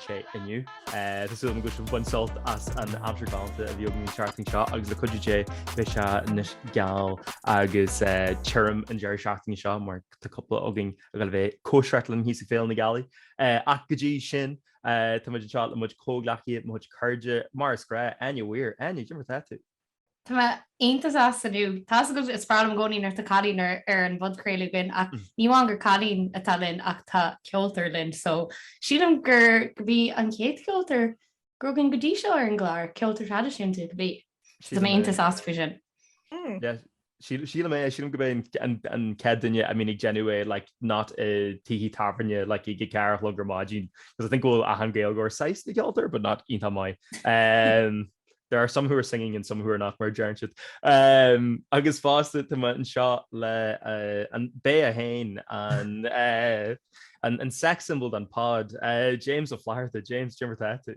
sé inniu. Tá súil agam go bhfuil sibh ag baint sult as an aimsir galánta a bhí againn an seachtain seo agus le cuidiú Dé beidh sé anois geal agus tirim an deireadh seachtaine seo mar tá cúpla againn ag gabháil a bheith ag cóisireacht linn thíos ag Féile na Gealaí. Ach go dtí sin tá muid anseo le mo chuid comhghleacaithe, mo chuid cairde, mar is gnách, Áine Weir, Áine, cad é mar tá tú? Tá mé iontach sásta inniu. Tá a fhios agaibh, is breá liom i gcónaí nuair atá cailín ar ar an bpodchraoladh againn ach ní amháin gur cailín atá linn ach tá ceoltóir linn so sílim gur gurb í an chéad cheoltóir go raibh againn go dtí seo ar an gclár, ceoltóir traidisiúnta cibé. So tá mé iontach sásta faoi sin. Sílim é, sílim gurb é an chéad duine a mbíonn ag déanamh é like not i dtithe tábhairne like ag a ceathair a chlog ar maidin because I think go bhfuil achan Gaeilgeoir saghas de cheoltóir but not iontach maith. Umm there are some who are singing and some who are not mar a deireann siad. Umm agus fosta tá mé anseo le an bae é féin an eh an sex symbol den pod eh James Ó Flatharta. James, cad é mar tá tú.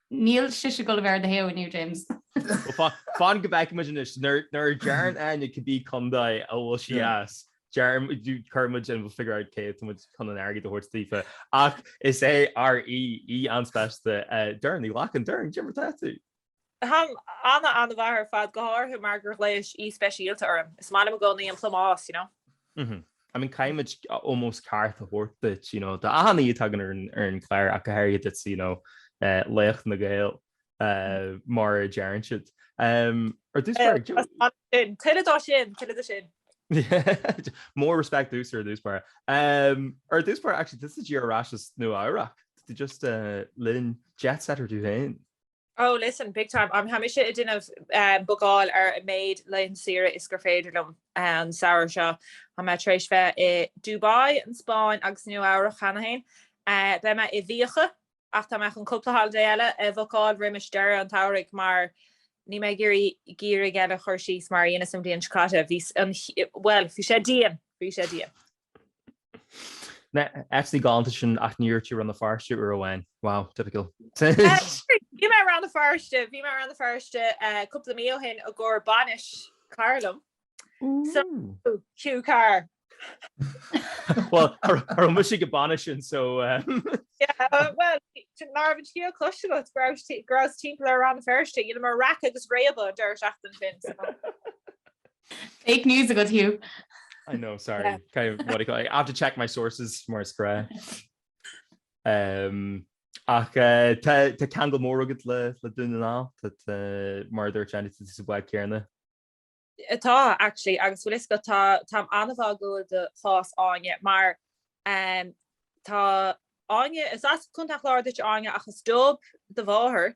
Níl sise ag dul a bheith ar do thaobh inniu, James. Fan go bhfeicfimid anois. Nuair a deireann Áine cibé contae a bhfuil sí as, cuirimid in, we'll figure out cé atá muid chun an airgead a thabhairt daofa. Ach is é ár aoi, aoi an-speisialta. Doireann Ní Ghlacáin, Doireann, cad é mar atá tú? Táim ana-ana-mhaith ar fad, go háirithe mar gur ghlaois aoi speisialta orm. Is maith liom i gcónaí an plámás, you know. Mh. I mean, caithfimid ómós ceart a thabhairt duit, you know, do achan aoi a tagann ar an, ar an gclár, ach go háirithe duit, you know, laoch na Gael, mar a deireann siad. Ar dtús báire actually. Tá sin. Tuilleadh de sin, tuilleadh de sin. More respect to you, sir, ar dtús báire. Ar dtús báire, actually, tusa díreach ar ais as Nua-Eabhrac. Tú just linn jet-setter tú féin. Oh listen, big time, I'm tháimse ag déanamh bookáil ar an méid laethanta saoire is gur féidir liom an samhradh seo. Tá mé tar éis bheith i Dubai, an Spáinn agus Nua-Eabhrac cheana féin. Beidh mé i bhfiacha, ach tá mé chun cúpla holiday eile a bhookáil roimis deireadh an tsamhraidh mar níl mé ag iarraidh geimhreadh eile a chur síos mar a dheineas an bhliain seo caite. Bhí an, bhuel, bhí sé dian, bhí sé dian. Na háiteachaí galánta sin ach níor dhúirt tú Rann na Feirste uair amháin. Wow, typical. Bhí mé i Rann na Feirste, bhí mé i Rann na Feirste cúpla mí ó shin i gcomhair bainis cara liom. So, Hugh Carr. Bhuel, cha raibh mise ag an bainis sin so. Yeah, bhuel, ná raibh an scéal cloiste agat go raibh go rabhas timpeall ar Rann na Feirste, you know, mar raic agus réabadh an deireadh seachtaine sin, so. Fake news agat Hugh. I know, sorry. Yeah. Kind of, what do you call it? I have to check my sources mar is gnáth. Um, Ach eh, tá ceangal mór agat le le Dún na nGall eh, mar dúirt an sa bhád céarna. Tá actually agus bhfuil a fhios agat tá tá an-bhá agam do chás Áine mar um, tá Áine is as Contae an Chláir duit Áine ach is Dub do mháthair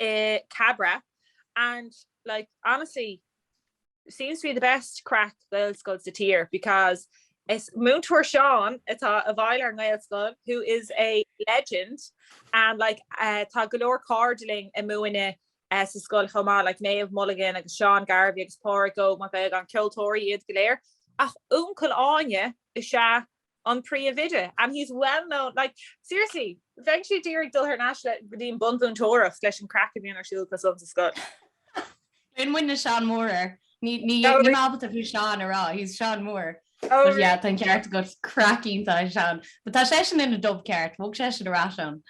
i Cabra and like honestly seems to be the best craic Gaelscoil sa tír because is Múinteoir Seán atá i bhfeighil ar an nGaelscoil who is a legend and like tá go leor cairde linn ag múineadh sa scoil chomh maith like Méabh Mulligan agus Seán Garvey agus Páraic Óg Mac Aodhagáin ceoltóirí iad go léir ach uncail Áine is ea an príomhoide and he's well known like seriously bheinnse d'iarraidh dul thar n-ais le go dtí an bunmhúinteoireacht leis an craic a bhíonn ar siúl acu san sa scoil. Bheireann muidne Seán Mór air. Ní ní Oh, really? Níl mé ábalta fiú Seán a rá, he's Seán Mór. Oh, But yeah, really? tá an ceart agat, craic iontach ag Seán. But tá seisean ina dub ceart, bhog seisean ar ais ann.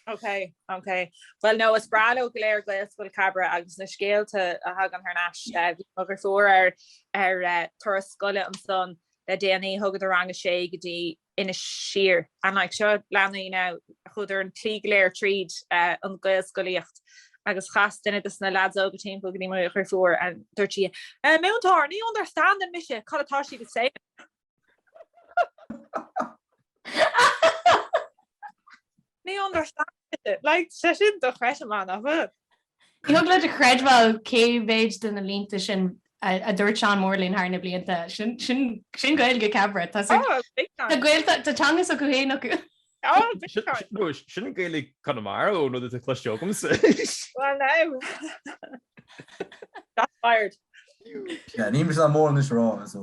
Ok, ok. Bhuel no, is breá leo go léir Gaelscoil Cabra agus na scéalta a thagann thar n-ais. Eh, Bhí mo dhriofúr ar ar eh, turas scoile ansan Le déanaí, thugadar Rang a 6 go dtí Inis Oírr. And like seo leanaí a chuadar an tslí go léir tríd an Ghaelscolaíocht agus chas duine dos na leaids óga timpeall go dtí mo dhriofúr and dúirt sí A múinteoir, ní understandann mise cad atá siad ag say! Ní understandann! Like seisean do chreideamán, áfach. Ní thig leat a chreidbheáil cé mhéad de na línte sin a dúirt Seán Mór linn thar na blianta. Sin Gaeilge Cabra. Tá Tá teanga s'acu féin acu. Sin an Gaeilge Conamara ón rud atá cloiste agamsa. Well now Shots fired. Níl mise dá mór anois a rá so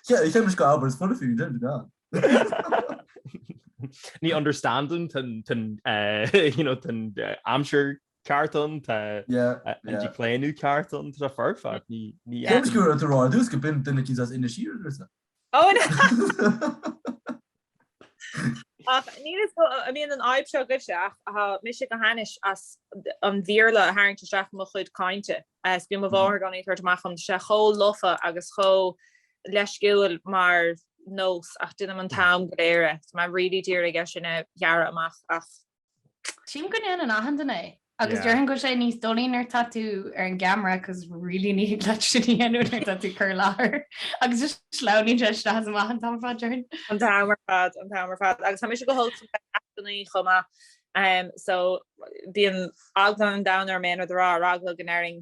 cheap mise gur abairt is funny for you, deir an Dr. Ní understandann tá an aimsir ceart ann, tá an díochlaonadh ceart ann, tá foirfe, ní fheadar. Cén scéal atá rá ar dtús go binn duine cinnte as Inis Oírr arsa. Ó na! Ach níl a fhios agam an mbíonn an fhadhb seo agaibhse ach tá mise go hainnis as an Bhéarla a tharraingt isteach i mo chuid cainte, is bíonn mo mháthair i gcónaí ag tabhairt amach dom, tá sé chomh lofa agus chomh leisciúil mar nós ach déanaim an t-am go léir é. Tá mé really d'iarraidh é sin a ghearradh amach ach. Tchím go ndéanann achan duine é agus déarfainn go bhfuil sé níos doilí nuair tá tú ar an gceamara cos really ní thig leat sin a dhéanamh nuair tá tú ag cur i láthair agus is sleamhnaíonn sé isteach is amach an t-am ar fad déarfainn. An t-am ar fad, an t-am ar fad agus tá mise go holc le heascainí chomh maith so bíonn eagla an domhain orm aon rud a rá ar eagla go ndéarfainn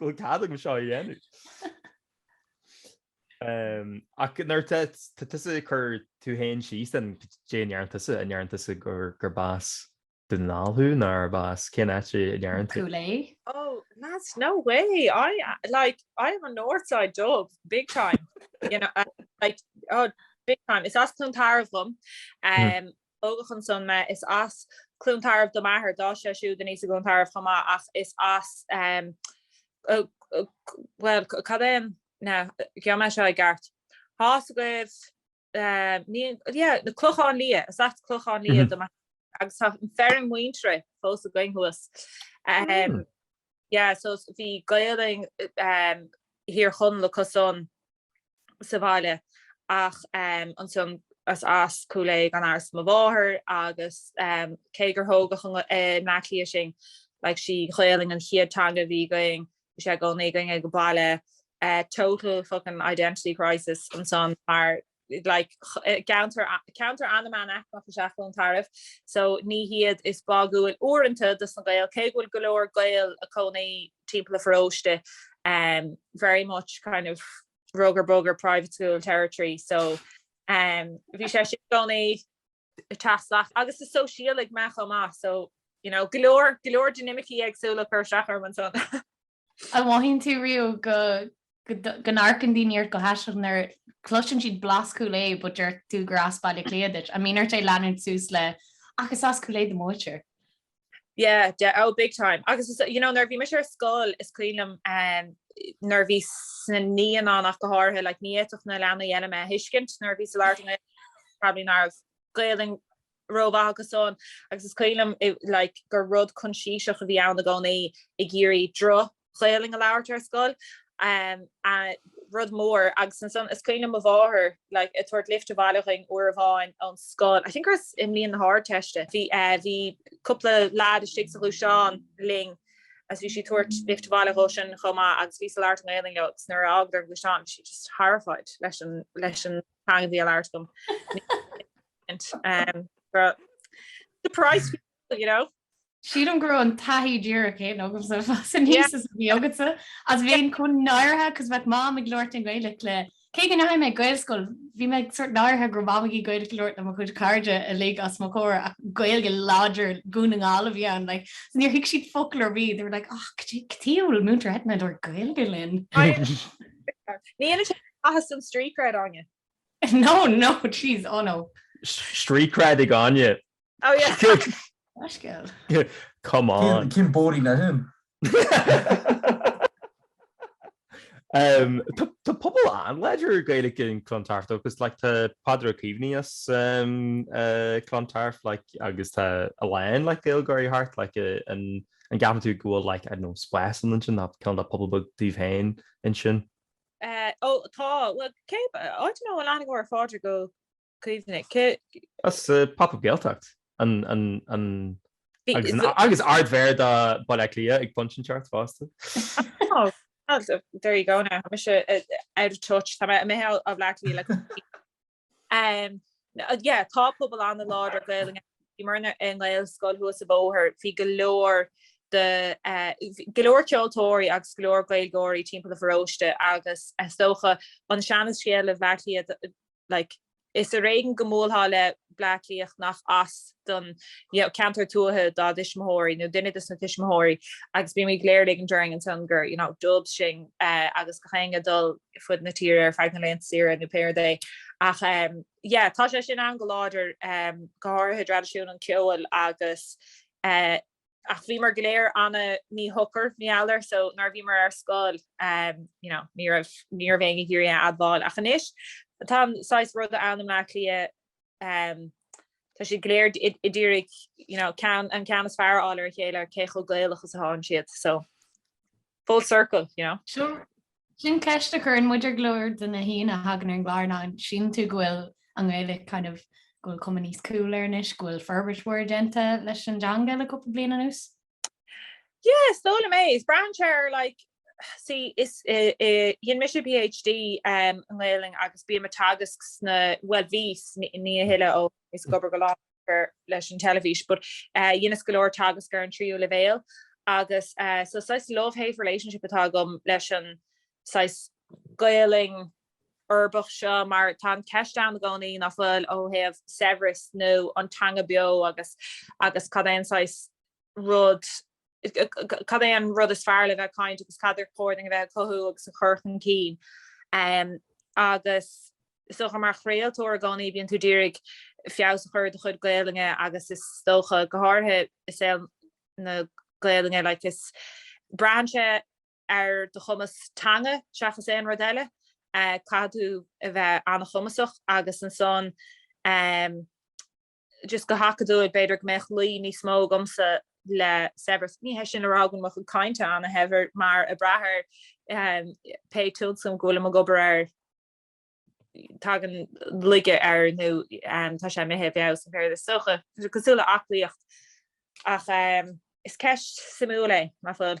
Go cead agam seo a dhéanamh. ach nuair atá tusa ag cur tú féin síos an, an ndeireann tusa an ndeireann tusa gur gurb as Dún na nGall thú nó arb as cén áit a ndeireann tú. Cúil Aodha. Oh, that's no way. I, like, I am a Northside dub, big time. You know, like, oh, big time. Is as Cluain Tarbh dhom. Tógadh ansan mé. Is as Cluain Tarbh do m'athair. D'fhás sé siúd aníos i gCluain Tarbh chomh maith ach is as, em, bhuel, cad é an, na, gheobhaidh mé seo i gceart. Thás agaibh, em, ní, yeah, na Clochán Liath. Is as Clochán Liath do m'athair agus tá an feirm mhuintire fós againn thuas. Em. yeah so bhí Gaeilig Thír Chonaill acu san sa bhaile ach ansan is as Cúil Aodha gan amhras mo mháthair agus cé gur thógadh i mBleá Cliath sinn like sí an Ghaolainn an chéad teanga a bhí againn bhí sé i gcónaí againn ag baile total fuckin identity crisis ansan mar like ceantar ceantar an-mheánaicmeach is ea Cluain Tarbh so ní hiad is báúil uaireanta dos na Gaeil cé go bhfuil go leor Gaeil a' cónaí timpeall an pharóiste em very much kind of rugger bugger private school territory so em bhí sé sin i gcónaí a' teacht salach agus is sóisialach mé chomh maith so you know go leor go leor dinimicí éagsúla a' cur isteach orm ansan. An mothaíonn tú riamh go go n-amharcann daoine ort go haisteach nuair a chloiseann siad blas Chúil Aodha but deir tú gur as Baile Átha Cliath duit, an mbíonn ort é a leanúint suas le ach is as Cúil Aodha do mo mháthair? Yeah, yeah, oh big time. Agus is, you know, nuair a bhí mise ar scoil, is cuimhin liom nuair a bhíos sna naíonáin ach go háirithe, like ní fhéadfadh na leanaí eile mé a thuiscint nuair a bhíos ag labhairt i nGaeilge, probably ná raibh Gaolainn rómhaith acu san, agus is cuimhin liom, like, gur rud coinsiasach a bhí ann i gcónaí ag iarraidh droch Ghaolainn a labhairt ar scoil, rud mór, agus ansan is cuimhin liom mo mháthair like ag tabhairt lift abhaile dhuinn uair amháin ón scoil, I think gur i mbliain na hArdteiste, bhí eh bhí cúpla leaid istigh sa ghluaisteán linn agus bhí sí ag tabhairt lift abhaile dhóibhsean chomh maith agus bhí sí ag labhairt i nGaolainn leo agus nuair a fhágadar an gluaisteán bhí sí just horrified leis an leis an teanga a bhí á labhairt agam. Surprised! you know. Sílim go raibh an taithí díreach céanna agamsa ag fás aníos is a bhí agatsa, is bhínn chomh náirithe cos bheadh Mam ag labhairt i nGaeilge le, cé go ndeachaigh mé chuig Gaelscoil, bhí mé sort náirithe go raibh Mam ag Gaeilge ag labhairt le mo chuid cairde uilig os mo chomhair ach Gaeilge láidir Dhún na nGall a bhí ann like so níor thuig siad focal ar bith, they were like oh cad chuige a bhfuil múinteoir Eithne ag labhairt Gaeilge linn. Ní dhéanann sin aon mhaitheas don street cred Áine. No no jeez oh no. Street cred ag Áine Oh yeah. Oscail. Come on. Cén bóirín le sin? Tá pobal an-láidir Gaeilge in Clontarf, cos like tá Peadar Ó Caomhnaigh as Clontarf like agus tá a lán like Gaeilgeoirí thart like an an gceapann tú go bhfuil like I don't know spás ann ansin nó kind of pobal beag daoibh féin ansin? Eh oh tá bhuel cé I don't know an aithníonn tú Peadar Ó Caomhánaigh. That's Pop Up Gaeltacht agus Ardmhéara de Baile Átha Cliath ag pointe i gceart fosta. There you go now, tá mise out of touch, tá mé imithe as Bleá Cliath le cúpla bliain. Yeah, tá pobal an-láidir Gaelainne, mar bhí an Ghaelscoil thuas an bóthar, bhí go leor de, go leor ceoltóirí agus go leor Gaeilgeoirí timpeall an pharóiste agus is dócha an seanascéal i mBleá Cliath like. Is ar éigean go mbuailfeá le Bleá Cliathach nach as don, you know, ceantar tuaithe dá dtuismitheoirí, nó duine de sna tuismitheoirí, agus bímid go léir ag ligint orainn ansan gur, you know, dubs sinn, eh, agus gach éinne ag dul ar fud na tíre ar feadh na laethanta saoire, nó péire dé. Ach, em, yeah, tá sé sin ann go láidir, em, go háirithe i dtraidisiún an cheoil agus, eh, ach bhíomar go léir ana-mhíshocair, ní foláir, so nuair a bhíomar ar scoil, you know, ní raibh, ní raibh éinne ag iarraidh a admháil, ach anois, tá an saghas rud ann i mBleá Cliath, em, tá siad go léir ag iarraidh, you know, ceann, an ceann is fearr a fháil ar a chéile, cé chomh Gaelach is atá siad, so. Full circle, you know. Seo, sin ceist a chuireann muid ar go leor de na haíonna a thagann ar an gclár ná, an síleann tú go bhfuil an Ghaeilge kind of, go bhfuil cuma níos cool air anois, go bhfuil forbairt mhór déanta leis an dteanga le cúpla bliain anuas? Yeah, is dóigh liom é. Braitheann sé ar like, see, is dhein mise PhD um i nGaelainn agus bím ag teagasc sna, bhuel bhíos, ní, ní a thuilleadh ó, bhíos ag obair go lán leis an teilifís but dheineas go leor teagasc ar an tríú leibhéal agus so saghas love hate relationship atá agam leis an saghas Gaolainn uirbeach seo mar tá an ceist ann i gcónaí nach bhfuil ó thaobh saibhreas nó an teanga beo agus agus cad é an saghas rud, cad é an rud is fearr le bheith ag caint agus cad ar chóir dúinn a bheith ag cothú agus ag cur chun cinn. Agus is dócha mar chraoltóir i gcónaí bíonn tú ag iarraidh feabhas a chur ar do chuid Gaolainne agus is dócha, go háirithe i saol na Gaolainne, like is, braitheann sé ar do chumas teanga seachas aon rud eile. Caithfidh tú a bheith an-chumasach agus ansan, just go hacadúil, b'fhéidir go mbeadh luí níos mó agamsa le saibhreas. Ní hé sin le rá go mbíonn mo chuid cainte ana-shaibhir mar, ag brath ar pé tionscnamh go bhfuilim ag obair air, tagann laige air nó tá sé imithe i bhfeabhas, an péire is dócha, cosúil le aclaíocht. Ach is ceist suimiúil é, nach bhfuil?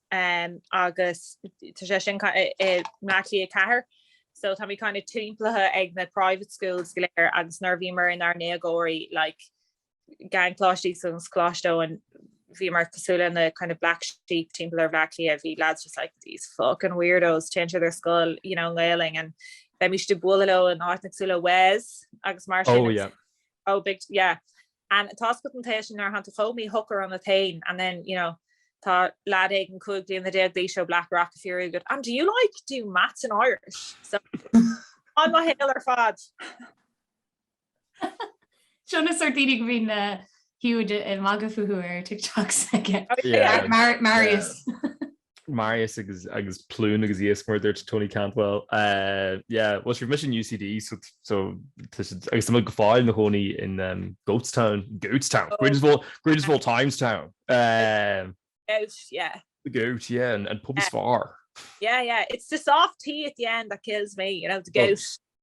Um, agus tá sé sin ca- i- i mBleá Cliath 4. So táimid kind of timpeallaithe ag na private schools go léir agus nuair a bhíomar inár ndéagóirí, like, i gColáiste Íosagáin is Coláiste Eoin, bhíomar cosúil le na kind of black sheep timpeall ar Bhleá Cliath, bhí lads just like, these fucking weirdos, téann siad ar scoil, you know, i nGaolainn and bheimis ag bualadh leo in áiteanna cosúil le Wes agus mar sin. Oh yeah. Oh big, yeah. and tá's agat an tae sin nuair a tháinig tú chugam í hook around the taen and then you know tá leaid éigin 15 bliana d'aois ó Blackrock ag fiafraí agat and do you like do maths in Irish so an mo shaol ar fad. Seo na sort daoine go mbíonn Hugh ag magadh fúthu ar TikToks aige. Marius. Marius agus agus Plún agus iascmhar dúirt Tony Cantwell eh yeah bhuel sure mise in UCD so so agus tá muid go fóill ina chónaí in em Goatstown Goatstown oh. greatest of all greatest of all times town eh Goat yeah the goat yeah and, and pub is far yeah yeah it's the soft tea at the end that kills me you know the goat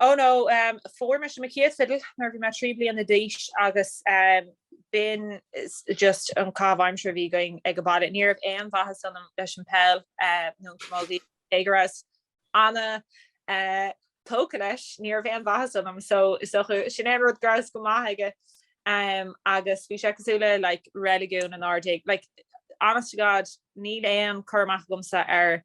Oh no, fuair mise mo chéad fidil nuair a bhí mé trí bliana d'aois agus b'in just an caitheamh aimsire a bhí againn ag an baile. Ní raibh aon mhaitheas ionam leis an peil nó an camogie, cé go rabhas ana-tógtha leis, ní raibh aon mhaitheas ionam. So, is dócha, sin é an rud go rabhas go maith aige agus bhí sé cosúil le like reiligiún inár dtigh. Like, honest to God, níl aon cur amach agamsa ar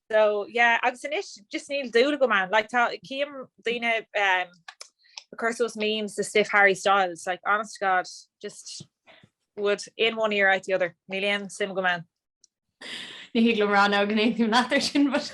So yeah agus anois just níl dúil agam ann like tá cím daoine um ag cur suas memes de stuif Harry Styles like honest to God just would in one ear out the other níl aon suim agam ann. Ní thig liom a rá go n-aontaím leat ar sin but.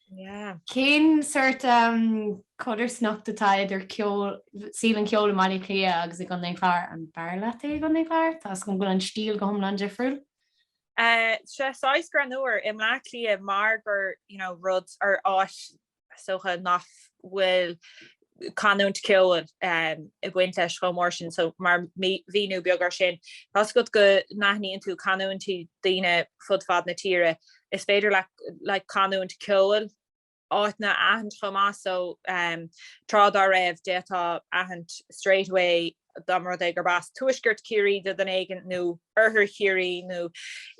Cén sort codarsnacht atá idir ceol, saol an cheoil i mBaile Átha Cliath agus i gContae an Chláir? An b'fhearr leat é i gContae an Chláir? Toisc go bhfuil an stíl go hiomlán difriúil? Sea, saghas greannúr i mBleá Cliath mar gur, you know, rud ar áit is dócha nach bhfuil canúint ceoil ag baint leis chomh mór sin so mar mhíniú beag ar sin, tá's agat go n-aithníonn tú canúintí daoine fud fad na tíre, is féidir leat like canúint ceoil áiteanna a aithint chomh maith so tráth dá raibh d'fhéadfá aithint straight away dá mba rud é gurb as tuaisceart Chiarraí do dhuine éigin nó oirthear Chiarraí nó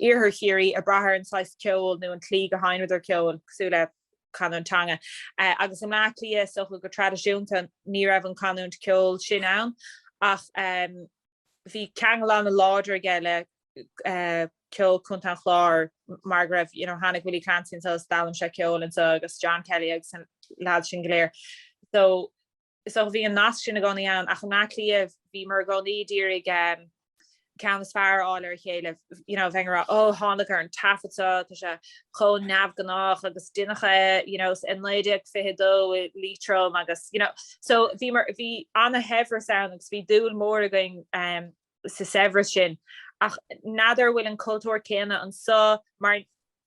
iarthar Chiarraí ag brath ar an saghas ceoil nó an tslí go sheinneadar ceol cosúil le chanúint teanga. Agus i mBleá Cliath, is dócha go traidisiúnta, ní raibh an chanúint ceoil sin ann, ach bhí ceangal ana-láidir aige le ceol Chontae an Chláir, mar go raibh, you know, tháinig Willie Clancy anseo is d'fhoghlaim sé ceol anseo, agus John Kelly agus na leaids sin go léir. So. Is dócha bhí an nasc sin i gcónaí ann, ach i mBleá Cliath bhíomar i gcónaí d'iarraidh ceann is fearr a fháil ar a chéile, you know, bheinn ag rá oh thánag ar an taifead seo, tá sé chomh neamhghnách agus deineadh é, you know, i 1922 i Liatroim agus, you know, so bhíomar, bhí ana-shaibhreas ann agus bhí dúil mór againn. sa saibhreas sin. Ach n'fheadar a bhfuil an cultúr céanna anso mar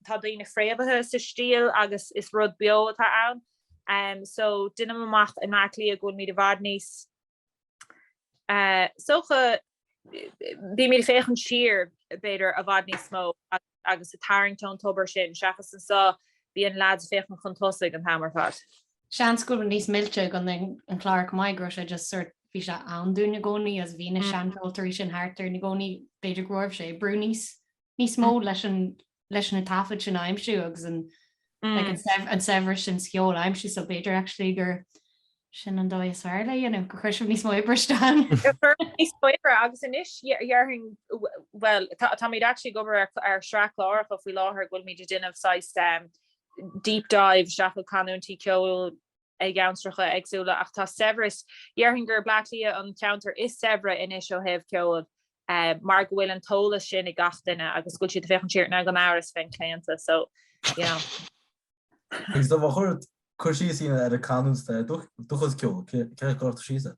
tá daoine fréamhaithe sa stíl agus is rud beo atá ann. So deinim amach in Áth Cliath go bhfuilmid i bhfad níos, is dócha, bímid ag féachaint siar b'fhéidir i bhfad níos mó agus. agus ag tarraingt ón tobar sin, seachas anso, bíonn leaids ag féachaint chun tosaigh an t-am ar fad. Seans go raibh níos millte i gContae an Chláir chomh maith, go raibh sé just sort, bhí sé ann dúinn i gcónaí agus bhí na seancheoltóirí sin thart orainn i gcónaí, b'fhéidir go raibh sé ag brú níos níos mó leis an leis na taifid sin a aimsiú agus an like an saibhreas sin sa cheol a aimsiú so b'fhéidir actually gur sin an dóigh is fearr le dhéanamh, gur chuir sibh níos mó oibre isteach ann. Níos mó oibre agus anois dhéarfainn, bhuel táimid actually ag obair ar shraith cláracha faoi láthair go bhfuilmid ag déanamh saghas deep dive isteach i gcanúintí ceoil i gceantracha éagsúla ach tá saibhreas, dhéarfainn gur Bleá Cliath an ceantar is saibhre anois ó thaobh ceoil mar go bhfuil an t-eolas sin ag gach duine agus go bhfuil siad ag féachaint siar, táim gan amhras féin claonta so yeah. Agus do bharr chuir cur síos a dhéanamh ar an canúint dúchas ceoil, céard a chuirtear síos air?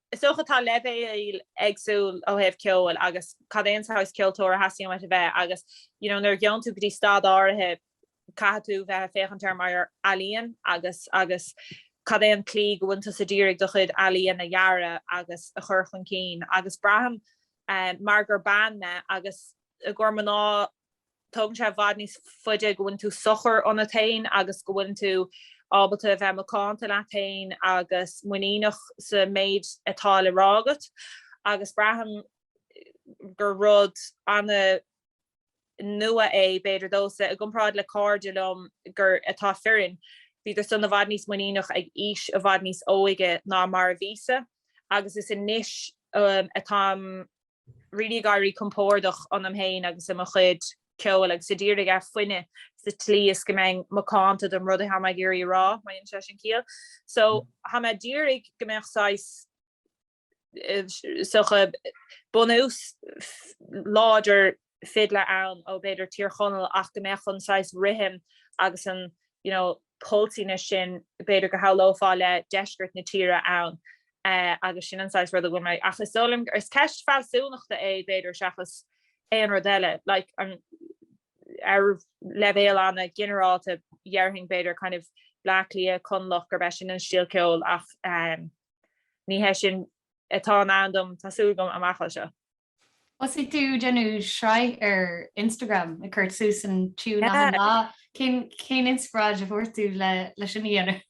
Is dócha tá leibhéil éagsúil ó thaobh ceoil agus cad é an saghas ceoltóir a theastaíonn uait a bheith agus you know nuair a ghabhann tú go dtí staid áirithe caithfidh tú bheith a féachaint air mar ealaíon agus agus cad é an tslí go bhfuileann tusa d'iarraidh do chuid ealaíon a dhearadh agus a chur chun cinn agus braithim mar gur bean mé agus i gcomhair mná tógann sé i bhfad níos faide go bhfuileann tú socair ionat féin agus go bhfuileann tú ábalta a bheith macánta leat féin agus muiníneach sa méid atá le rá agat agus braithim gur rud ana nua é b'fhéidir domhsa i gcomparáid le cairde liom gur atá fireann bhíodar san i bhfad níos muiníneach ag aois i bhfad níos óige ná mar a bhíosa agus is anois atáim really ag éirí compordach ionam féin agus i mo chuid ceoil agus a d'iarraidh é a fhuineadh sa tslí is go mbeinn macánta don rud atá mé ag iarraidh a rá, má dhéanann sé sin ciall. So, tá mé d'iarraidh go mbeadh saghas, is dócha, bunús láidir. fidile ann ó b'fhéidir Tír Chonaill ach go mbeadh an saghas rithim agus an you know pulsiness sin b'fhéidir go shamhlófá le deisceart na tíre ann agus sin an saghas rud a bhfuil mé ach is dóigh liom is ceist fealsúnachta é b'fhéidir seachas aon rud eile like an ar leibhéal ana ghinearálta dhéarfainn b'fhéidir kind of Bleá Cliath, Conallach gurb é sin an stíl ceoil ach ní hé sin atá i ndán dom tá súil agam amach anseo. Thosaigh tú ag déanamh sraith ar Instagram ag cur suas an tiúin achan lá. Cén inspioráid a fuair tú leis sin a dhéanamh?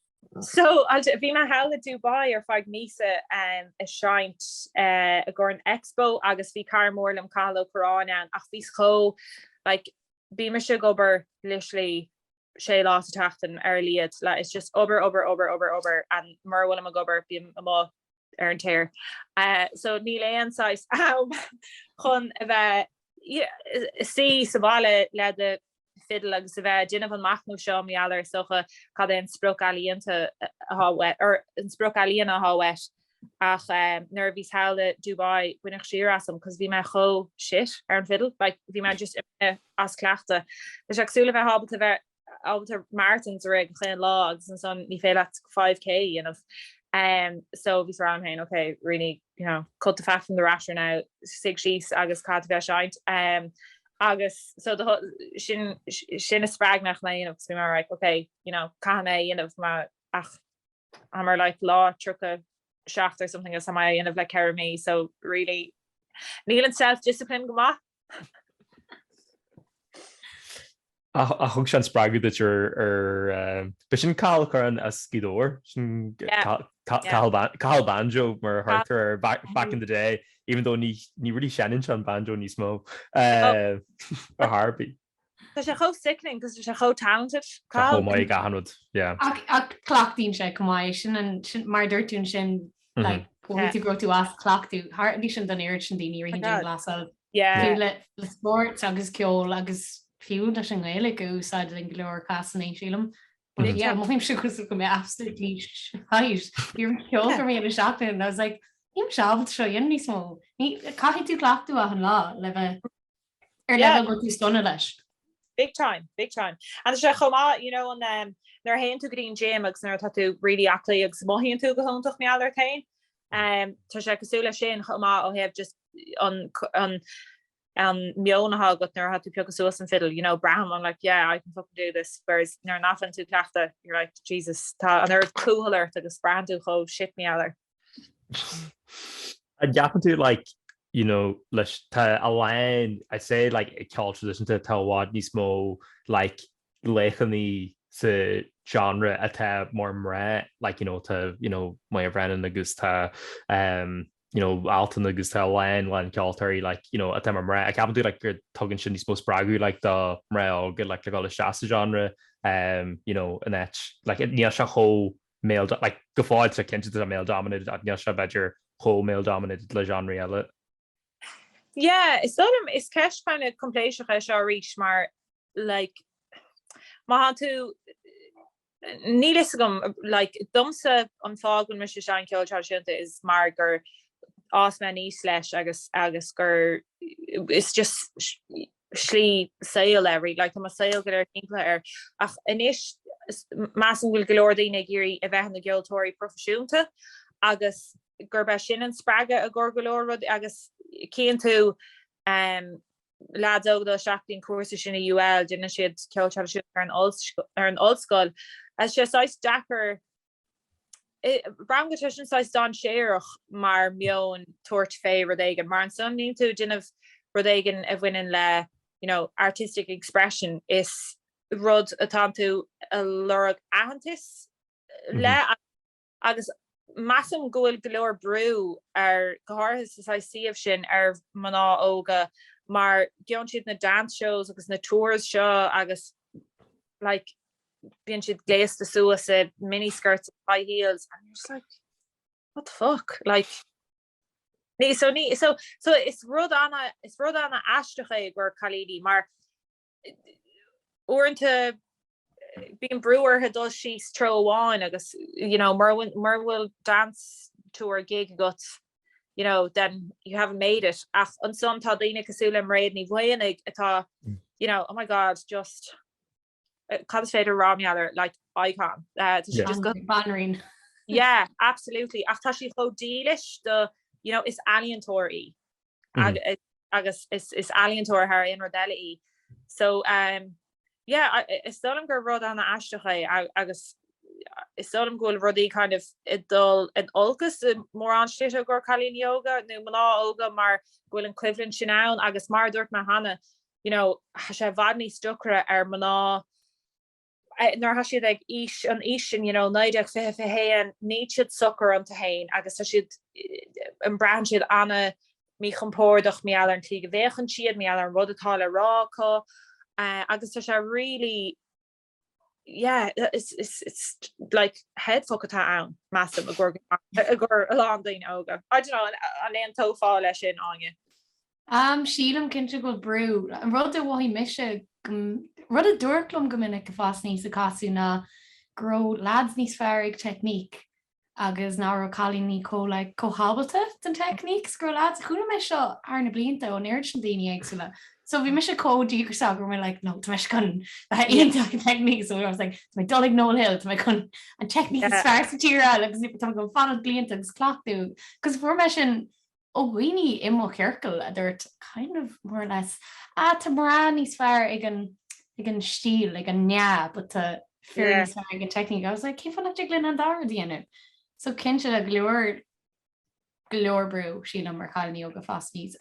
So, bhí mé thall i Dubai ar feadh míosa ag seinnt i gcomhair an Expo agus bhí cara mór liom, Cathal Ó Curráin, ann ach bhíos chomh, like, bímse ag obair literally sé lá sa tseachtain ar a laghad, like, it's just obair, obair, obair, obair, obair and mura bhfuilim ag obair bím amuigh ar an tear. So níl aon saghas am chun a bheith suí sa bhaile le do fidil agus a bheith ag déanamh an machnamh seo mar gheall ar is dócha cad é an sprioc ealaíonta atá uait, or an sprioc ealaíona atá uait. Ach nuair a bhíos thall i Dubai baineadh siar asam cos bhí mé chomh shit ar an fidil, like bhí mé just as cleachtadh. Tá sé cosúil le bheith ábalta bheith ábalta marathons a rith gach aon lá agus ansan ní féidir leat 5K a dhéanamh. Em so bhíos ag rá liom féin ok really you know cut the fat from the rasher now, suigh síos agus caithfidh tú bheith ag seinnt. Em agus so sin sin a spreag mé chun é a dhéanamh agus bhí mé like ok you know caithfidh mé é a dhéanamh ma ach tá mé ar like lá 37 or something agus tá mé á dhéanamh le ceithre mí so really níl an self discipline go maith. Ach thug sé an spreagadh duit ar, ar, but sin Cathal Curran as Gaoth Dobhair? Sin Cathal, Cathal Banjo mar a thugtar air back in the day, even though ní, ní really seinneann sé an banjo níos mó, ar chor ar bith. Tá sé chomh sickening cos tá sé chomh talented. Tá sé chomh maith ag achan rud, yeah. Ach, ach cleachtaíonn sé chomh maith é sin an, sin, mar a dúirt tú ansin, like, go bhfuil tú, go raibh tú as cleachtadh tharla sin don oiread sin daoine i rith an dianghlasáil. Yeah. Fiú le, le spórt agus ceol agus fiú leis an nGaeilge a úsáid in go leor cásanna, sílim. But yeah, mothaímse cosúil go bhfuil mé absolutely shite. Bhí an ceol gormaí ar an seachtain and I was like, níl mise ábalta seo a dhéanamh níos mó. Ní, caithfidh tú cleachtadh achan lá le bheith, Ar leibhéal a bhfuil tú sona leis? Big time, big time. Tá sé chomh maith, you know, an um, nuair théann tú go dtí'n gym agus nuair tá tú really aclaí agus mothaíonn tú go hiontach mar gheall ort féin, um, tá sé cosúil le sin chomh maith ó thaobh just an, an, an meon atá agat nuair atá tú ag piocadh suas an fiddle, you know, braithim, I'm like, yeah, I can fucking do this, whereas nuair nach bhfuileann tú ag cleachtadh, you're like, Jesus, tá an oiread cúthail ort agus braitheann tú chomh shit mar gheall air. An gceapann tú like you know leis tá a lán I'd say like i ceol traidisiúnta tá i bhfad níos mó like laochanaí sa genre atá mar mná like you know tá you know Moya Brennan agus tá um you know Altan agus tá a lán a lán ceoltóirí like you know atá mar mná an gceapann tú like gur tugann sin níos mó spreagadh like do mná óga like le dul isteach sa genre um you know an áit like níl sé chomh male dom, like go fóill tá sé cinnte male dominated ach níl sé b'fhéidir chomh male dominated le genre eile. Yeah, is dóigh liom is ceist kind of coimpléiseach é seo arís mar like má théann tú níl fhios agam like domsa an fáth go bhfuil mise ag seinm ceol traidisiúnta is mar gur fhás mé aníos leis agus agus gur it's just slí saoil é really, like tá mo shaol go léir timpeallaithe air. Ach anois measaim go bhfuil go leor daoine ag iarraidh a bheith ina gceoltóirí proifisiúnta agus gurb é sin an spreagadh i gcomhair go leor rudaí. Agus tchíonn tú em leaids óga dul isteach go dtí an cúrsa sin i UL, déanann siad ceol traidisiúnta ar an ollscoil agus sé saghas deacair, Braithim go bhfuil sé sin saghas dainséarach mar meon tabhairt fé rud éigin mar ansan níl tú déanamh rud éigin a bhaineann le you know artistic expression is rud atá tú ag lorg aitheantas le agus measaim go bhfuil go leor brú ar go háirithe sa saghas suíomh sin ar mná óga mar go gcíonn siad na dance shows agus na tours seo agus like bíonn siad gléasta suas i mini skirts and high heels and you're just like what the fuck like ní so ní so so is rud ana is rud ana aisteach é i gcomhair cailíní mar uaireanta bíonn brú ortha dul síos treo amháin agus you know mura bhfuil mura bhfuil dance tour gig agat you know, then you haven't made it ach ansan tá daoine cosúil le Mairéad Ní Mhaonaigh atá, you know, oh my god, just, cad is féidir a rá mar gheall air, like, icon. Tá sí just go. Banríon. Yeah, absolutely, ach tá sí chomh dílis do, you know, is ealaíontóir í agus is ealaíontóir thar aon rud eile í. So, yeah is dóigh liom gur rud ana aisteach é agus is dóigh liom go bhfuil rudaí kind of ag dul in olcas i mórán slite i gcomhair cailíní óga nó mná óga mar go bhfuil an coimhlint sin ann agus mar a dúirt mé cheana you know tá sé i bhfad níos deacra ar mná nuair atá siad ag an aois sin you know 19, 20, 21 níl siad socair iontu féin agus tá siad eh, eh, braitheann siad ana míchompordach, mar gheall ar an tslí go bhféachann siad, mar gheall ar an rud atá le rá acu, agus tá sé really, yeah, it's like headfuck atá ann, measaim, i gcomhair a lán daoine óga. I don't know, an aontófá leis sin, Áine? Um, sílim cinnte go bhfuil brú. An rud a mhothaigh mise, rud a dúradh liom go minic ag fás aníos ag casadh ná go raibh leaids níos fearr ag technique agus nach raibh cailíní chomh like chomh hábalta don teicníc is a bhí leaids, chuala mé seo thar na blianta ón oiread sin daoine éagsúla, so bhí mise chomh díograiseach go raibh mé like no, tá mé chun bheith iontach ag an teicníc, so I was like tá mé ag dul ag Noel Hill, tá mé chun an teicníc is fearr sa tír a fháil agus tá mé chun fanacht ann blianta agus cleachtadh, 'cause fuair mé sin ó dhaoine i mo chiorcal a dúirt kind of, more or less, ah tá mná níos fearr ag an ag an stíl, ag an nea but tá fir níos fearr ag an technique. I was like cén fáth nach dtig linn an dá rud a dhéanamh? So cinnte tá go leor go leor brú sílim ar chailíní óga ag fás aníos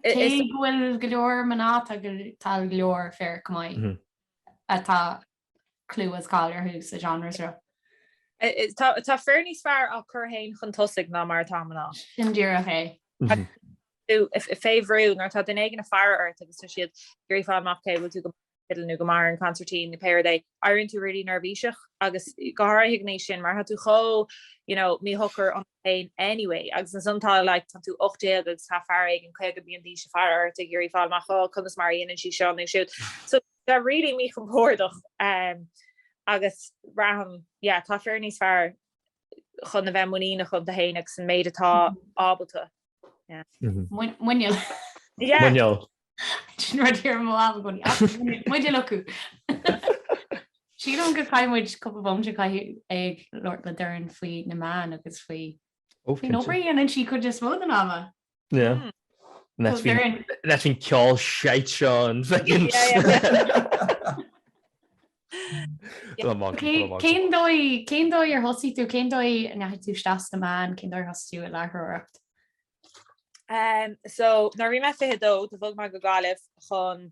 cé go bhfuil go leor mná atá go tá go leor fir go maith atá clú is cáil orthu sa genre seo. Tá fir níos fearr á cur féin chun tosaigh ná mar atá mná. Sin díreach é. Braitheann tú fé bhrú nuair atá duine éigin ag faire ort agus tá siad ag iarraidh fáil amach an bhfuil tú go maith ar an bhfidil nó go maith ar an gconsairtín nó pé rud é, éiríonn tú really neirbhíseach agus go háirithe ag an aois sin mar tá tú chomh, you know, míshocair ionat féin anyway agus ansan tá like tá tú 18 agus tá fear éigin 50 bliain d'aois ag faire ort ag iarraidh fáil amach oh conas mar a dhéanann sí seo nó siúd so Tá really míchompordach agus braithim yeah tá fear níos fearr chun a bheith muiníneach iontu féin agus an méid atá ábalta. Muineál. Yeah. Muineál. Sin rud a déarfaimis againne, tá muineál acu. Sílim gur chaith muid cúpla bomaite ag labhairt le Doireann faoi na meáin agus faoi, faoin obair a dhéanann sí cuid is mó den am. Seachas faoin ceol shite seo an fhéin. Cén dóigh ar thosaigh tú? Cén dóigh a ndeachaigh tú isteach sna meáin? Cén dóigh ar thosaigh tú ag láithreoireacht? So nuair a bhí mé 22 do bhog mé go Gaillimh chun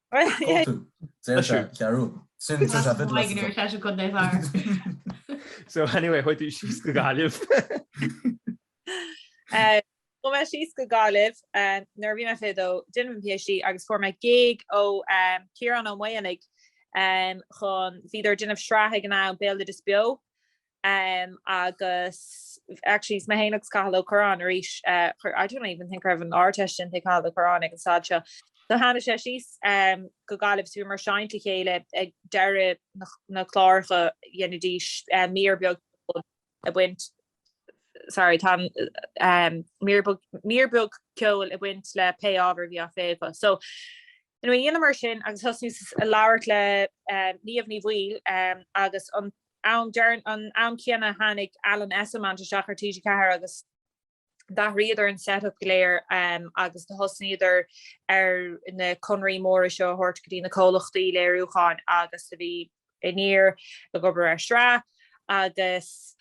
Cóip tú. Saol sé, Chiarú. Sin Just a bit less Wagner, tá sé chun mé fear. So anyway chuaigh tú síos go Gaillimh. Chuaigh mé síos go Gaillimh nuair a bhí mé fiche a dó, ag déanamh an PhD agus fuair mé gig ó Ciarán Ó Maonaigh chun, bhíodar ag déanamh sraithe ag an am, Béaloideas Beo, Em agus actually is mé féin agus Cathal Ó Curráin arís eh chuir I don't even think raibh an Ardteist déanta ag Cathal Ó Curráin ag an staid seo so tháinig sé síos em go Gaillimh so bhíomar ag seinnt le chéile ag deireadh na na cláracha dheinidís eh mír beag ag baint sorry tá an em mír beag mír beag ceoil ag baint le pé ábhar a bhí á phlé acu so anyway dheineamar sin agus thosnaíos ag labhairt le eh Niamh Ní Bhaoill em agus an An am céanna tháinig Alan Esslemont isteach ar TG4 agus d'athraíodar an set-up go léir agus thosnaíodar ar na conarthaí móra seo a thabhairt go dtí na comhlachtaí léiriúcháin agus bhí Aniar ag obair ar sraith agus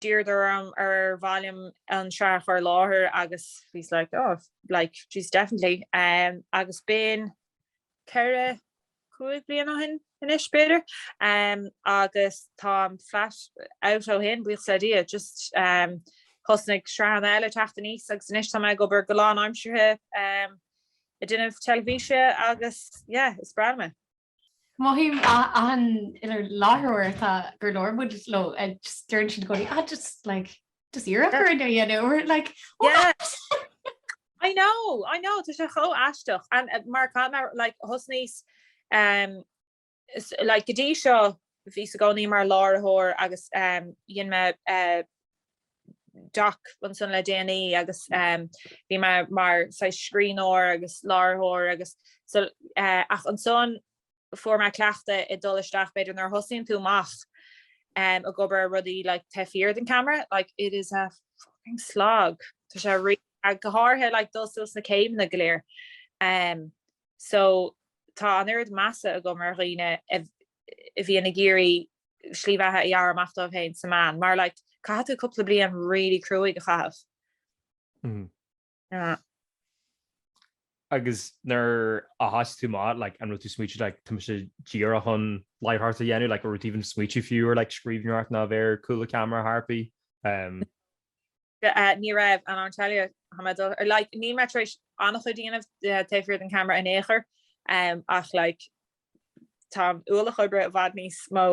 d'iarradar orm, ar mhaith liom an sraith a chur i láthair agus bhíos like, oh like, jeez definitely. Agus b'in ceithre. cúig bliana ó shin anois, b'fhéidir, agus táim flat out ó shin, buíochas le Dia. Just thosnaigh sraitheanna eile teacht aníos agus anois tá mé ag obair go lánaimseartha ag déanamh teilifíse agus yeah, is breá liom é. Mothaím achan uile láithreoir atá gur labhair muid leo, just deireann siad i gcónaí, ah just like, Just iarradh orm é a dhéanamh or like what? I know, I know, tá sé chomh aisteach and uh, mar cá mar like thosnaíos um, s- like go dtí seo bhíos i gcónaí mar láithreoir agus um, dhein mé uh, doc ansan le déanaí agus um, bhí mé mar saghas scríbhneoir agus láithreoir agus so, uh, ach ansan fuair mé cleachtadh ag dul isteach b'fhéidir nuair a thosaíonn tú amach em ag obair ar rudaí like taobh thiar den camera like it is a fucking slog tá sé really go háirithe like dul suas na céimeanna go léir em so tá an oiread measa agam ar dhaoine a bhíonn ag iarraidh slí bheatha a ghearradh amach dóibh féin sna meáin mar like caithfidh tú cúpla bliain really cruaigh a chaitheamh mm-hmm. Agus nuair a thoisigh tú amach, like, an raibh tú smaoitigh, like, tá mise díreach chun láithreoireacht a dhéanamh, like, an raibh tú even smaoitigh fiú ar, like, scríbhneoireacht ná a bheith ar chúl an cheamara ar chor ar bith? Umm. Ní raibh, and I'll tell you how my daughter, like, níl mé tar éis an-chuid a dhéanamh taobh thiar den cheamara in aon chor, umm, ach, like, Tá ualach oibre i bhfad níos mó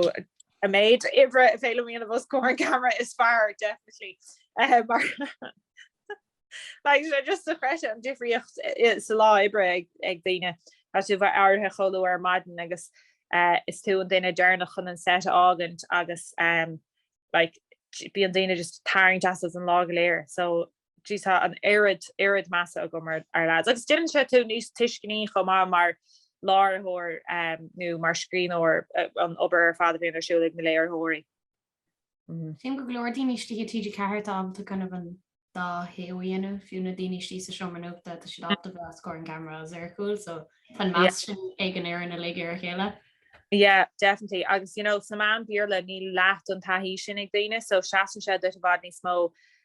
an méid oibre a bhí le déanamh os comhair an camera is fearr, definitely. Mar like sin just dochreidte an difríocht sa lá oibre ag daoine. Tá tú bheith éirithe chomh luath ar maidin agus is tú an duine deireanach chun an set a fhágaint agus like bíonn daoine just ag tarraingt asat an lá go léir. So Sea, tá an oiread, oiread measa agam ar ár leaids. Agus déanann sé tú níos tuisceanaí chomh maith mar láithreoir nó mar scríbhneoir, an obair ar fad a bhíonn ar siúl ag na léiritheoirí. Sílim go leor daoine istigh i TG4 atá ábalta kind of an dá thaobh a dhéanamh, fiú na daoine istigh sa seomra nuachta, tá siad ábalta bheith os comhair an cheamara agus ar a chúl, so tá an meas sin ag an fhoireann uilig ar a chéile. Yeah, definitely. Agus, you know, sa meán Béarla níl leath den taithí sin ag daoine, so seasann sé duit i bhfad níos mó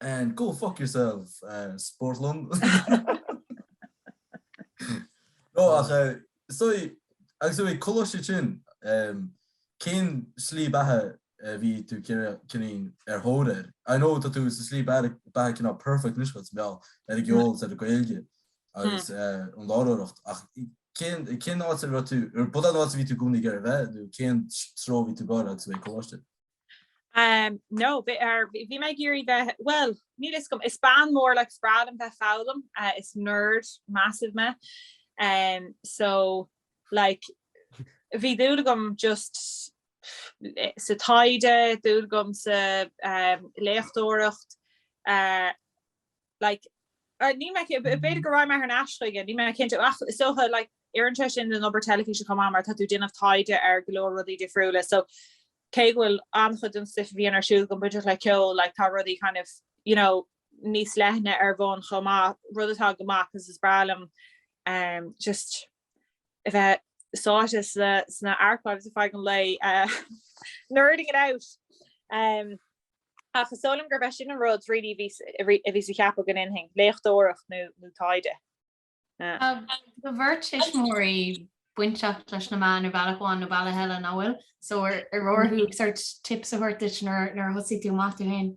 And go fuck yourself spórt long. No ach so agus i ndiaidh coláiste ansin cén slí beatha a bhí tú kind of ar thóir air? I know tá tú sa slí beatha cineál perfect anois agus idir an gceol is an Ghaeilge agus an láithreoireacht ach cén cén áit a raibh tú, b'iúd an áit a bhí tú i gcónaí ag iarraidh a bheith nó cén treo a bhí tú ag gabháil i ndiaidh coláiste? Um, no, bhi, or bhí mé ag iarraidh bheith, bhuel, níl fhios agam, is bean mór, like, is breá liom bheith ag foghlaim, eh, is nerd massive mé, um, so, like, bhí dúil agam just sa taighde, dúil agam sa, um, léachtóireacht, eh, like níl mé cinnte, b'fhéidir go raghaidh mé thar n-ais chuige, níl mé cinnte, ach is dócha, like oireann sé sin don obair teilifíse chomh maith mar tá tú ag déanamh taighde ar go leor rudaí difriúla, so cé go bhfuil an-chuid den stuif a bhíonn ar siúl agam bainteach le ceol, like tá rudaí kind of, you know, níos leithne ar bun chomh maith, rud atá go maith, 'cause is breá liom just, a bheith sáite sna archives ar feadh an lae, nerding it out. Ach is dóigh liom gurb é sin an rud really a bhíos ag ceapadh go ndéanfainn, léachtóireacht nó taighde. Tá do bheirt thuismitheoirí bainteach leis na meáin ar bhealach amháin nó bealach eile, nach bhfuil? So an bhfuair tú sort tips uathu nuair a thosaigh tú amach tú féin?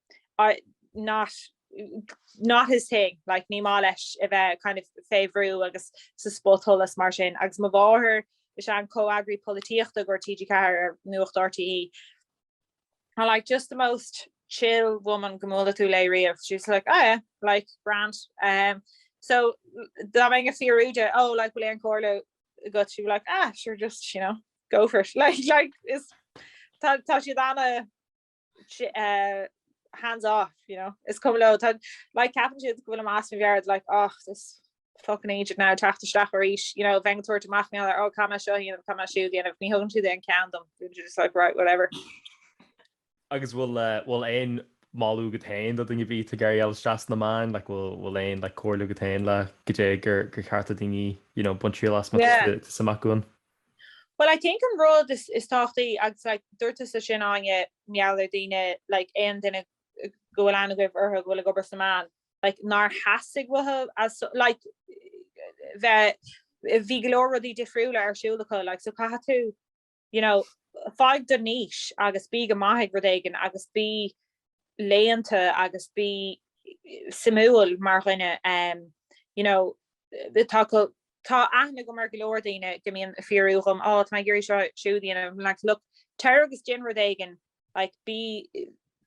it's not his thing, like ní maith leis a bheith kind of fé bhrú agus sa spotsholas mar sin, agus mo mháthair is í an comhfhreagraí polaitíochta go dtí TG4 ar Nuacht RTÉ, and like just the most chill woman go mbuailfidh tú léi riamh, she was just like, oh yeah, like grand, um so dá mbeinn ag fiafraí di, oh like bhfuil aon chomhairle agat, she'd be like, ah sure just, you know, go for it, like like is tá tá siad ana, hands off you know is cuma leo tá like ceapann siad go bhfuilim as mo mheabhair like oh this fucking eejit ag teacht isteach arís you know bheith ag tabhairt amach mé ó caithim seo a dhéanamh caithim siúd a dhéanamh ní thugann siad aon cheann dom just like right whatever agus bhfuil eh, bhfuil aon mholadh agat féin do dhaoine a bheadh ag iarraidh gabháil isteach sna meáin like bhfuil bhfuil aon like comhairle agat féin le go dté gur gur cheart do dhaoine you know baint triail as má tá yeah. tú amach uainn Bhuel, I think an rud is tábhachtaí, agus like dúirt tusa sin Áine, mar gheall ar daoine, like aon duine go bhfuil aithne agaibh orthu go bhfuil ag obair sa meán, like nár theastaigh uathu as like bheith, bhí go leor rudaí difriúla ar siúl acu like so caithfidh tú you know fáigh do niche agus bí go maith ag rud éigin agus bí léannta agus bí suimiúil mar dhuine um, you know tá go Tá aithne agam ar go leor daoine go mbíonn ag fiafraí dhom, á, tá mé ag iarraidh seo, siúd, a dhéanamh, like, look, téir agus déan rud éigin, like, bí,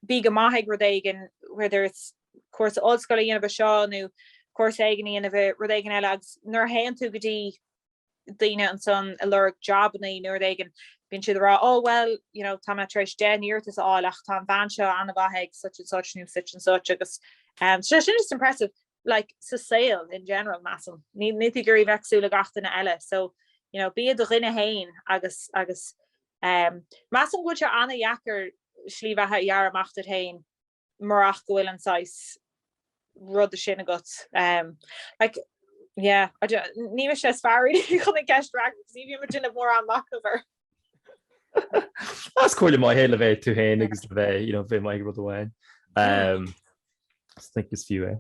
bí go maith ag rud éigin, whether it's cúrsa ollscoile a dhéanamh i seo nó cúrsa éigin a dhéanamh i rud éigin eile agus nuair a théann tú go dtí daoine ansan ag lorg jabannaí nó rud éigin, bíonn siad ag rá, oh, well, you know, tá mé tar éis deich n-iarratas a fháil ach tá an bhean seo an-mhaith ag such and such nó such and such agus, em, so sin just impressive. like, sa saol in general, measaim. Níl tú ag iarraidh bheith cosúil le gach duine eile, so, you know, bí i do dhuine fhéin agus, agus, ehm, measaim go bhfuil sé an-dheacair slí bheatha a ghearradh amach duit fhéin murach go bhfuil an saghas ruda sin agat, ehm, like, yeah, I don't, ní mise is fearr really chun an cheist a fhreagairt, ní bhím ag déanamh mórán machnaimh air. Is comhairle maith é le bheith tú féin agus le bheith you know, bheith maith i rud amháin. Um, think is fiú é.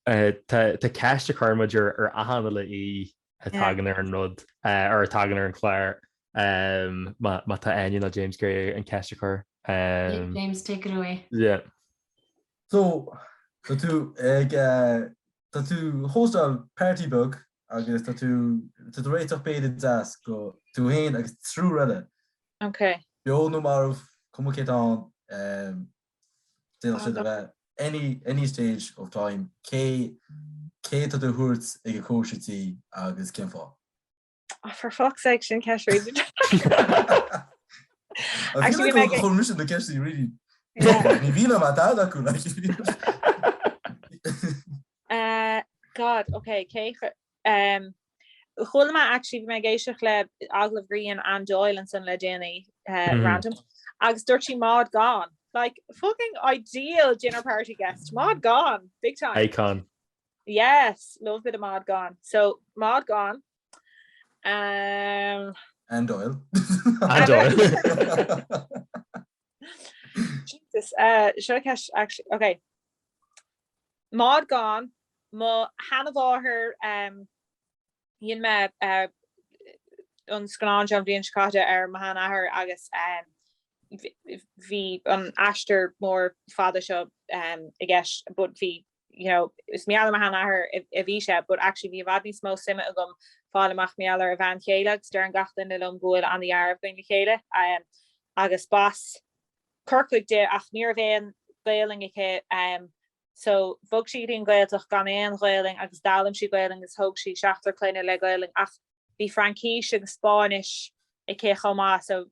Uh, tá tá ceist a chuireann muid ar achan uile aoi a Yeah. thagann ar an rud uh, ar a thagann ar an chlár um, má má tá Áine nó James ag iarraidh an ceist a chur. Um, James, take it away. yeah. So, tá tú ag, eh, tá tú ag hóstáil party beag Agus tá tú, tá tú ag réiteach béile deas do tú féin agus triúr eile. Ok. Beo nó marbh, cuma cé atá ann, d'fhéadfadh siad a bheith any, any stage of time, cé, cé atá tú a thabhairt ag an chóisir tí agus cén fáth? Oh, for fuck's sake, sin ceist really. I feel like cuireann mise na ceistí really. Ní bhí a dá acu Eh God ok cé eh chuala mé actually bhí mé ag éisteacht le agallamh gur dhein Anne Doyle ansan le déanaí eh random agus dúirt sí Maud Gonne. Like fucking ideal dinner party guest, Maud Gonne! Big time. Icon. Yes, love a bit of Maud Gonne. So Maud Gonne eh. Anne Doyle. Anne Doyle. Jesus, eh, seo an ceist, actually, ok. Maud Gonne, mo sheanamháthair, em, dhein mé, eh, an scannán seo an bhliain seo caite ar mo sheanathair agus, em, bh- bh- bhí an aistear mór fada seo, em, i gceist, but bhí you know, is mar gheall ar mo sheanathair a bhí sé, but actually bhí i bhfad níos mó suime agam fáil amach mar gheall ar a bhean chéile agus deireann gach duine liom go bhfuil an-dealramh againn le chéile. Agus b'as Corcaigh di ach ní raibh aon Ghaolainn aici, so bhog sí go dtí an Ghaeltacht gan aon Ghaolainn agus d'fhoghlaim sí Gaolainn agus thóg sí seachtar clainne le Gaolainn ach Bhí Fraincis agus Spáinnis aici chomh maith so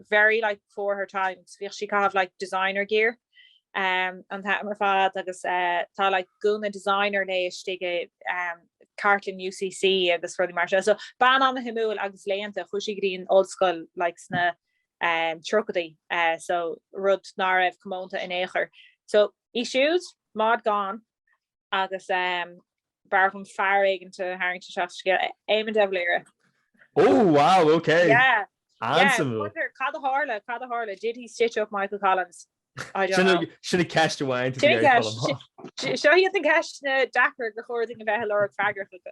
very like before her time so bhíodh sí ag caitheamh like designer gear an t-am ar fad agus tá like gúna designer léi istigh i cartlann UCC agus rudaí mar sin. So bean an-shuimiúil agus léannta, chuaigh sí go dtí an ollscoil like sna um, tríochaidí uh, so rud ná raibh comónta in aon chor. So í siúd, Maud Gonne, agus b'fhearr dhom fear éigint a tharraingt isteach sa scéal, Éamon de Valera. Oh wow ok! Yeah An-suimiúil. Yeah, wonder cad a tharla, cad a tharla, did he stitch up Michael Collins? I don't know. Sin an ceist amháin, to be honest, Colm. Sin an ceist. Seo iad na ceisteanna deacair gur chóir dúinn a bheith ag lorg freagracha acu.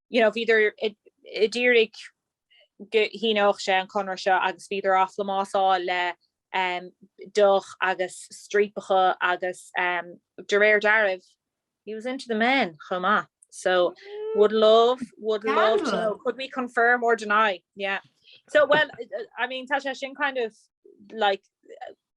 you know bhíodar a d'iarraidh go síneodh sé an conradh seo agus bhíodar á phlámásáil le um, deoch agus striapacha agus um, de réir dealraimh he was into the men chomh maith. So would love would love to know. could we confirm or deny yeah so well I mean tá sé sin kind of like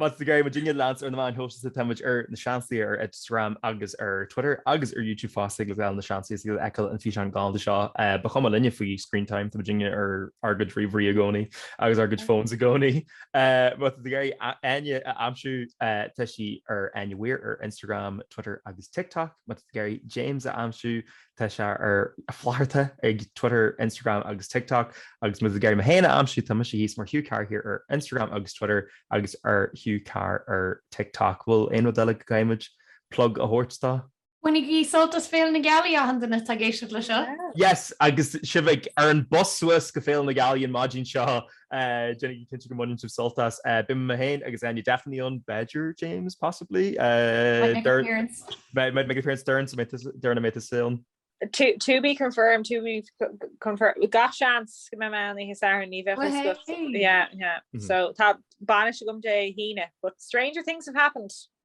Má tá sibh ag iarraidh muidinne a leanstan ar na meáin shóisialta tá muid ar Na Seansálaithe ar Instagram agus ar Twitter agus ar YouTube fosta thig libh ghabháil ar Na Seansálaithe is a fheiceáil an físeán galánta seo. Ba chuma linne faoi screen time tá muidinne ar ár gcuid ríomhairí i gcónaí agus ár gcuid phones i gcónaí. Má tá sibh ag iarraidh Áine a aimsiú tá sí ar Áine Weir ar Instagram, Twitter agus TikTok. Má tá sibh ag iarraidh James a aimsiú Tá sé ar Flatharta ag Twitter, Instagram agus TikTok agus má tá sibh ag iarraidh mé féin a aimsiú tá mise thíos mar Hugh Carr here ar Instagram agus Twitter agus ar Hugh Carr ar TikTok. Bhfuil aon rud eile go gcaithfidh muid plug a thabhairt dó? Bainigí sult as Féile na Gealaí achan duine atá ag éisteacht leis seo! Yes agus sibh ag ar an bus suas go Féile na Gealaí an maidin seo! Déanaigí cinnte go mbaineann sibh sult as. Beidh mé féin agus Áine definitely ann, b'fhéidir, James, possibly? Might make an appearance. Might make an appearance, Doireann, so Doireann, an mbeidh tusa ann? To be confirmed, to be confirmed. Gach seans go mbeidh mé ann oíche Shathairn, ní bheadh fhios agat. Woohey! Yeah, yeah. So tá bainis agam Dé hAoine, but stranger things have happened.